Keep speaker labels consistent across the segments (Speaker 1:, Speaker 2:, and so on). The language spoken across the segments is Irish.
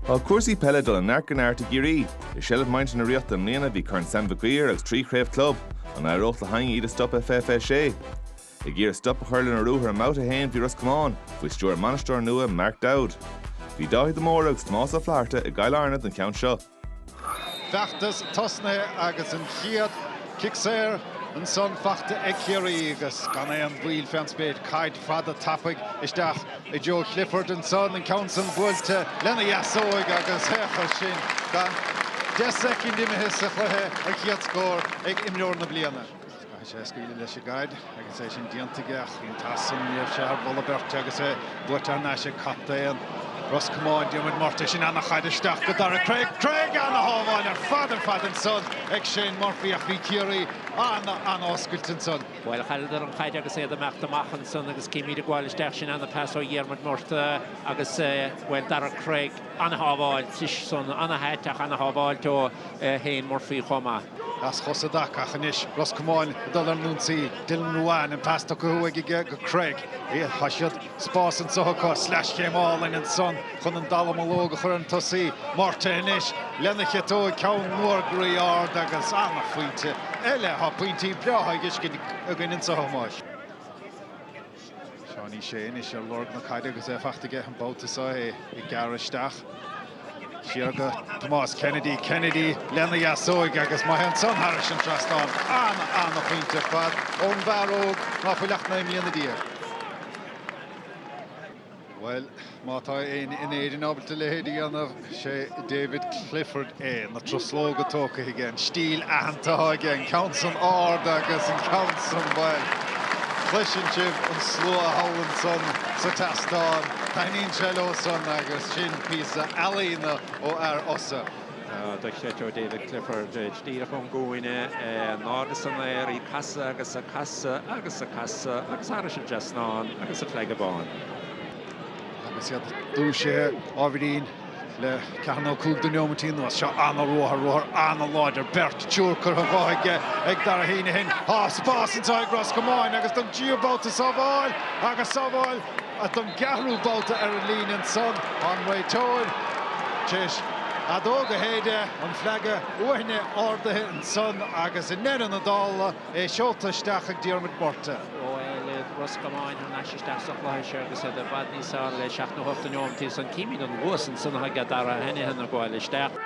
Speaker 1: Tá cúrsaí peile ag dul ó neart go neart i gCiarraí. I seilbh muintir na Ríochta i mbliana bhí Corn Sam Mhic Uidhir agus trí chraobh club. An éireodh le héinne iad a stop i fiche fiche sé? Ag iarraidh stop a chur lena ruathar i mBabhta 1 bhí Ros Comáin, faoi stiúir a mbainisteora nua, Mark Dowd. Bhí Dáithí de Mórdha agus Tomás Ó Flatharta i gCill Airne don cheann seo.
Speaker 2: Feachtas tosnaithe agus an chéad chic saor ansan faighte ag Ciarraí agus gan aon mhoill fén spéir, caid fada tapaidh isteach i dtreo Clifford ansan, an ceann san buailte lena dheasóig agus féach air sin gan deich soicind imithe sa chluiche, an chéad scór ag imreoir na bliana. Caithfidh sé scaoileadh leis an gcaid agus é sin déanta aige ach bhí an pas san, ní raibh sé thar mholadh beirte agus é buaite thar n-ais ag captaen Ros Comáin, Diarmuid Murtagh. Sin ana-chaid isteach go Daire Cregg, ana-shábháil ar fad ar fad ansan ag Shane Murphy ach bhí Ciarraí an-an-oscailte ansan. Bhuel, chailleadar an
Speaker 3: chaid agus iad ag imeacht amach ansan agus címid ag gabháil isteach, sin ana-phas ó Dhiarmuid Murtagh agus, bhuel, Daire Cregg. ana-shábháilt ansan, ana-áit ach ana-shábháilt ó Shane Murphy chomh maith. As Fossa
Speaker 2: d'Eachach ach anois Ros Comáin ag dul ar an ionsaí, Dylan Ruane, an pas tugtha uaidh aige go Cregg. Tá siad, spás anseo acu, sleaschéim álainn ansan chun an dallamullóg a chur ar an tosaí, Murtagh anois lena chiotóig, ceann mór groí ard agus ana-phointe eile. Tá pointí breátha á bhfeiscint againn anseo, a Thomáis. Seánie Shea anois ar lorg na caide agus é faighte aige an babhta seo, é ag gearradh isteach. Siar go Tomás Kennedy, Kennedy lena dheasóig agus má théann san thairis an trasnán, ana, ana phointe ar fad ón bhfear óg ná fuil ach naoi mbliana déag. Bhuel, má tá éinne in Éirinn ábalta a leithéid a dhéanamh, sé David Clifford é. Na truslóga tógtha aige, an stíl aitheanta atá aige, an ceann san ard agus an ceann san, bhuel, cloiseann sibh an slua thall ansan sa tseastán, taithníonn sé leo san agus sin píosa ealaíona ó fhear Fhosa. dochreidte
Speaker 3: ó David Clifford, díreach ón gcúinne, in airde san aer, í ag casadh agus ag casadh agus ag casadh agus thairis an trasnán agus an fleaga bán.
Speaker 2: Agus iad dúisithe ábhairín le ceathair nó cúig de neomataí anuas. Seo an-ruathar, ruathar an-láidir, beirt triúr curtha dhe aige ag Darragh Heneghan. Tá spás anseo ag Ros Comáin agus don tríú babhta sábháil agus sábháil Agus don gceathrú babhta ar an líne ansan tá an réiteoir tar éis a fheadóg a shéideadh an fleaga uaithne ardaithe ansan agus i ndeireadh na dála é seolta isteach ag Diarmuid Murtagh. Bhuel,
Speaker 3: Ros Comáin thar n-ais isteach sa chluiche seo agus iad i bhfad níos fearr le seacht nó hocht de neomataí ansan, címid an luas ansan atá ag Darragh Heneghan ag gabháil isteach.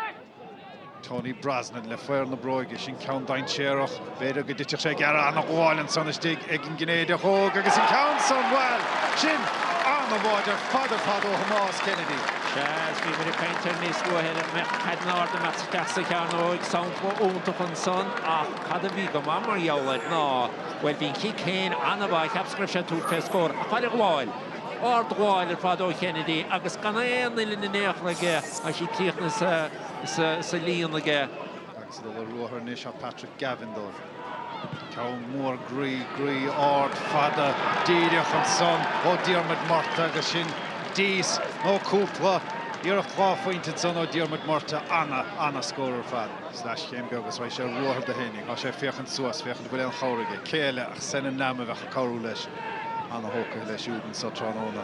Speaker 2: Tony Brosnan le faobhar na bróige, sin ceann dainséarach, b'fhéidir go dtitfeadh sé gearra, ana-ghabháil ansan istigh ag an gCinnéideach óg agus an ceann san, bhuel, sin ana-bháide ar fad, ar fad ó Thomás Kennedy. Sea, agus bhíomar
Speaker 3: ag caint ar níos luaithe ar an mbeadh caid in airde a mbeadh isteach sa chearnóig, sampla iontach ansan ach cad a bhí go maith mar gheall air ná, bhuel, bhí an cic féin an-mhaith, cheapas go raibh sé ag tabhairt fé scór ach faid a' ghabháil, ardghabháil ar fad ó Chennedy agus gan aon uillinn in aon chor aige agus í críochnaithe sa líon aige. Agus ag dul ar
Speaker 2: ruathar anois thá Patrick Gavin dóibh. Ceann mór groí, groí ard, fada, díreach ansan ó Diarmuid Murtagh agus sin dís nó cúpla, iarracht dhá phointe ansan ó Diarmuid Murtagh. Ana, ana scór ar fad. Sleaschéim beag agus raghaidh sé ar ruathar do Heaney. Thá sé ag féachaint suas, féachaint an bhfuil aon chabhair aige. Cé eile ach Senan Lambe a bheadh. cabhrú leis. Ana-thógtha leis siúd anso tráthnóna.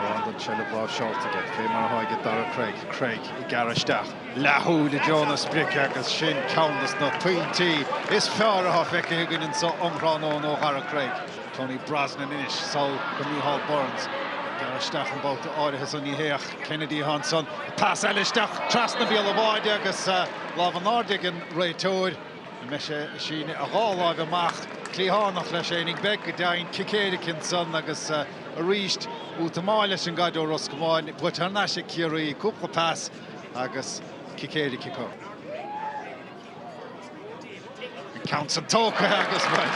Speaker 2: Mórán den tseilbh láimhseálta aige. Fé mar atá aige Daire Cregg. Cregg ag gearradh isteach. Leathshúil i dtreo na sprice agus sin ceann des na pointí is fearr atá feicthe againn anso um thráthnóna ó Dhaire Cregg. Tony Brosnan anois sall go Micheál Burns. Ag gearradh isteach an babhta áirithe so ní hé ach Kennedy atá ansan. Pas eile isteach trasna bhéal an bháide agus lámh in airde ag an réiteoir. Bhí sé ag síneadh a dhá láimh amach, cliathánach leis féinig, beidh go deimhin, cic éirice ansan agus arís útamáil leis an gcaid ó Ros Comáin, buaite thar n-ais ag Ciarraí, cúpla pas agus cic éirice acu. An ceann san tógtha agus, bhuel,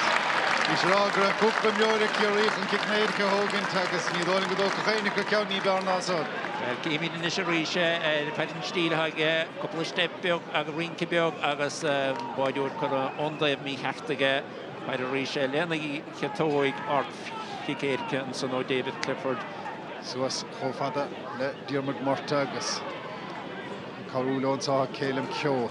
Speaker 2: bhíos ag rá go raibh cúpla imreoir ag Ciarraí chun cic éirice a thógaint agus ní dóigh liom go dtógfadh éinne acu ceann ní b'fhearr ná san. Bhuel, chífimid anois
Speaker 3: arís ar cad é an stíl atá aige. Cúpla steip beag agus rince beag agus an báideoir curtha ón dtaobh mícheart aige. Fair arís é lena chiotóig ard-chic éirice ansan ó David Clifford. Suas
Speaker 2: chomh fada le Diarmuid Murtagh agus ag cabhrú leo anso tá Caelim Keogh.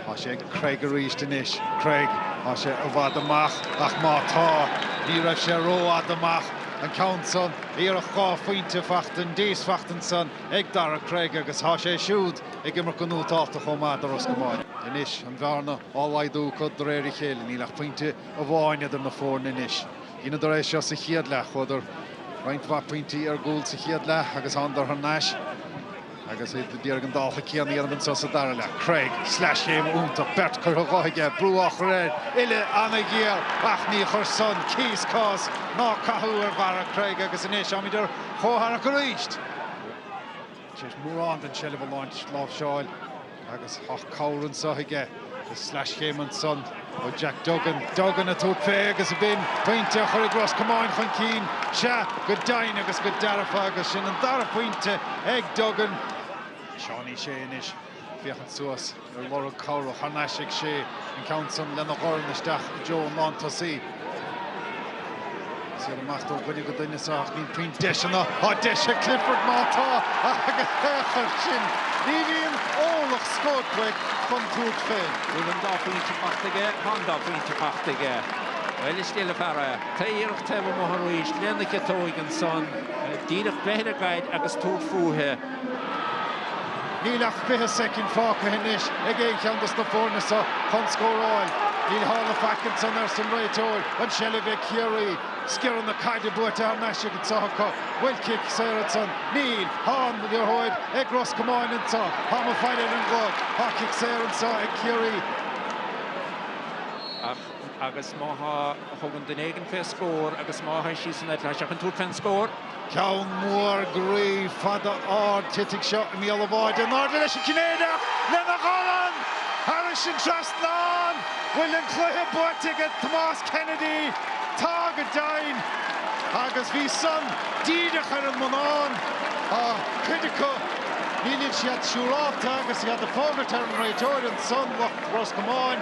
Speaker 2: Tá sé ag Cregg arís anois. Cregg, tá sé i bhfad amach ach má tá, ní raibh sé rófhada amach. An ceann san, iarracht dhá phointe faighte, an dís faighte ansan. ag Daire Cregg agus tá sé siúd ag imirt go nótálta chomh maith do Ros Comáin. Anois, an bhearna á laghdú acu de réir a chéile. Níl ach pointe amháin idir na foirne anois. Dheineadar é seo sa chéad leath. Chuadar roinnt mhaith pointí ar gcúl sa chéad leath agus thánadar thar n-ais agus iad a d'iarraidh an dálta céanna a dhéanamh anso sa dara leath. Cregg, sleaschéim iontach, beirt curtha dhe aige, brú á chur air, uillinn ana-ghéar ach ní chuir san cíos, cás ná cathú ar Dhaire Cregg agus anois táimid ar chomhtharrac arís. Deir mórán den tseilbh a láimhseáil láimhseáil agus tá cabhair anso aige, sleaschéim ansan ó Jack Duggan. Duggan ag tabhairt fé agus ab in pointe a chuirfidh Ros Comáin chun cinn. Sea, go deimhin agus go dearfa agus sin an dara phointe ag Duggan. Seánie Ó Sé anois. féachaint suas ar lorg cabhrach. Thar n-ais ag sé, an ceann san lena dhorn isteach i dtreo an lántosaí. Siar amach ó dhuine go duine anso ach níl puinn deiseanna. Tá deis ag Clifford má tá agus féach air sin. Ní bhíonn orlach scóip uaidh chun tabhairt fé. Bhfuil an dá
Speaker 3: phointe faighte aige? Tá an dá phointe faighte aige. Bhuel, is diail an fear é. Tá iarracht taobh amuigh arís lena ciotóig ansan. Díreach breith ar an gcaid agus tabhairt fúithi.
Speaker 2: Níl ach 20 soicind fágtha anois ag aon cheann dos na foirne seo chun scóráil. Ní tharla faic ansan arsa an réiteoir. An seilbh ag Ciarraí. Sciorrann na caide buaite thar n-ais anso acu. Bhfuil cic saor ansan. Níl. Tá an liathróid ag Ros Comáin anso. Táim ag faire ar an gclog. Tá cic saor anso ag Ciarraí. Ach
Speaker 3: agus má thugann duine éigin fé scór agus má tá sí san eiteachas seachain tabhairt fén scór. Ceann
Speaker 2: mór, groí, fada, ard, titfidh seo i mbéal an bháide in airde leis an Cinnéideach lena dhorn! Thairis an trasnán, bhfuil an cluiche buaite aige Tomás Kennedy? Tá go deimhin! Agus bhí san díreach ar an mbonnán. Tá cuid acu, níl siad siúrálta agus iad ag fógairt ar an réiteoir ansan, lucht Ros Comáin.